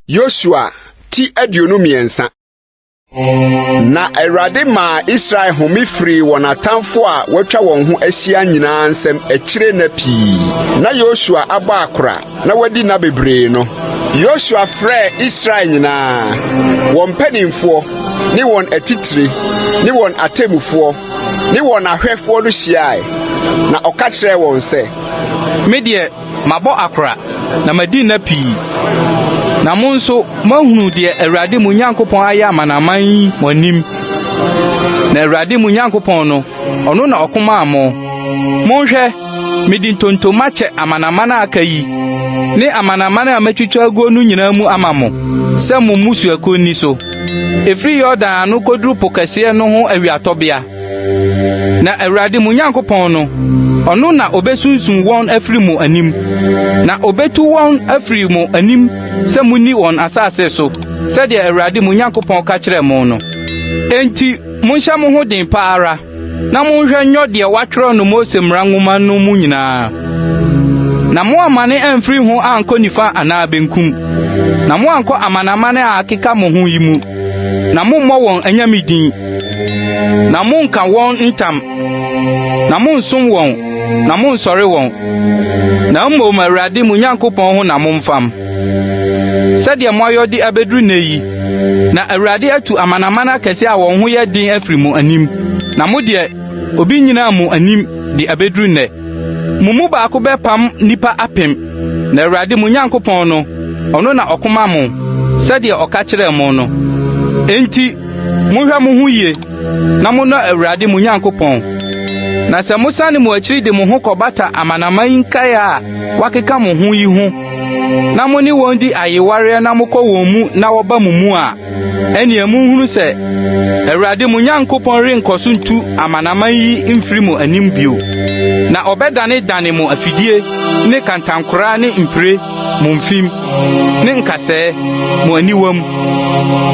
Yosua ti aduonu mmiɛnsa na awurade maa israel home firii wɔn atamfo a wɔatwa wɔn ho ahyia nyinaa nsɛm akyire nna pii na yosua abɔ akora na wadi nna bebree no yosua frɛɛ israel nyinaa wɔn mpanimfoɔ ne wɔn atitire ne wɔn atemmufoɔ ne wɔn ahwɛfoɔ no hyiaae, na ɔka kyerɛɛ wɔn sɛ. Me deɛ, mabɔ akora, na madi nna pii, na mo nso moahunu deɛ Awurade mo Nyankopɔn ayɛ amanaman yi mo anim. Na Awurade mo Nyankopɔn no, ɔno na ɔko maa mo. Monhwɛ! Mede ntontom akyɛ amanaman a aka yi ne amanaman a matwitwa aguo no nyinaa mu ama mo sɛ mo mmusuakuo nni so. Ɛfiri Yordan ano kɔduru po kɛseɛ no ho awiatɔbea. Na Awurade mo Nyankopɔn no, ɔno na ɔbɛsunsun wɔn afiri mo anim, na ɔbɛtu wɔn afiri mo anim sɛ monni wɔn asase so, sɛdeɛ Awurade mo Nyankopɔn ka kyerɛɛ mo no. Enti monhyɛ mo ho den pa ara. na monhwɛ nyɔ deɛ wɔatwerɛ no Mose mmara nwoma no mu nyinaa, na moammane amfiri ho ankɔ nifa anaa benkum, na moankɔ amanaman a akeka mo ho yi mu, na mommɔ wɔn anyame din, na monnka wɔn ntam, na monnsom wɔn, na monnsɔre wɔn, na mmom Awurade mo Nyankopɔn ho na momfam. Sɛdeɛ moayɔ de abɛduru nnɛ yi, na Awurade atu amanaman akɛseɛ a wɔn ho yɛ den afiri mo anim, na mo deɛ, obi nnyinaa mo anim de abɛduru nnɛ. Mo mu baako bɛpam nnipa apem, na Awurade mo Nyankopɔn no, ɔno na ɔko ma mo, sɛdeɛ ɔka kyerɛɛ mo no. Enti monhwɛ mo ho yie na monnɔ Awurade mo Nyankopɔn. Na sɛ mosane mo akyiri de mo ho kɔbata amanaman nkaeɛ a wɔakeka mo ho yi ho na mo ne wɔn di ayewareɛ na mokɔ wɔn mu na wɔba mo mu a, ɛnneɛ monhunu sɛ Awurade mo Nyankopɔn renkɔ so ntu amanaman yi mfiri mo anim bio, na ɔbɛdanedane mo afidie ne kantankoraa ne mpire mo mfim ne nkasɛɛ mo aniwam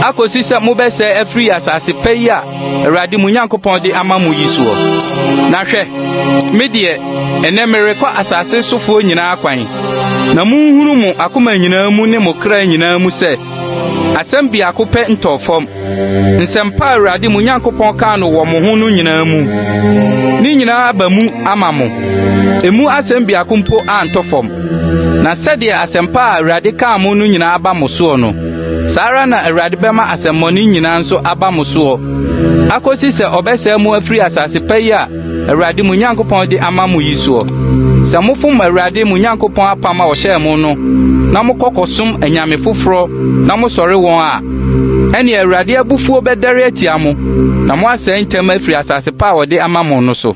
akɔsi sɛ mobɛsɛe afiri asase pa yi a Awurade mo Nyankopɔn de ama mo yi soɔ. Na hwɛ, me deɛ, ɛnɛ merekɔ asase sofoɔ nyinaa kwan, na monhunu mo akoma nyinaa mu ne mo kra nyinaa mu sɛ, asɛm biako pɛ ntɔɔ fam, nsɛmpa a Awurade mo Nyankopɔn kaa no wɔ mo ho no nyinaa mu. Ne nyinaa aba mu ama mo. Emu asɛm biako mpo antɔ fam. Na sɛdeɛ asɛmpa a Awurade kaa mo no nyinaa aba mo soɔ no, Saa ara na Awurade bɛma asɛmmɔne nyinaa nso aba mo soɔ, akɔsi sɛ ɔbɛsɛe mo afiri asase pa yi a Awurade mo Nyankopɔn de ama mo yi soɔ. Sɛ mofom Awurade mo Nyankopɔn apam a ɔhyɛɛ mo no, na mokɔ kɔsom anyame foforɔ na mosɔre wɔn a, ɛnneɛ Awurade abufuo bɛdɛre atia mo, na moasɛe ntɛm afiri asase pa a ɔde ama mo no so.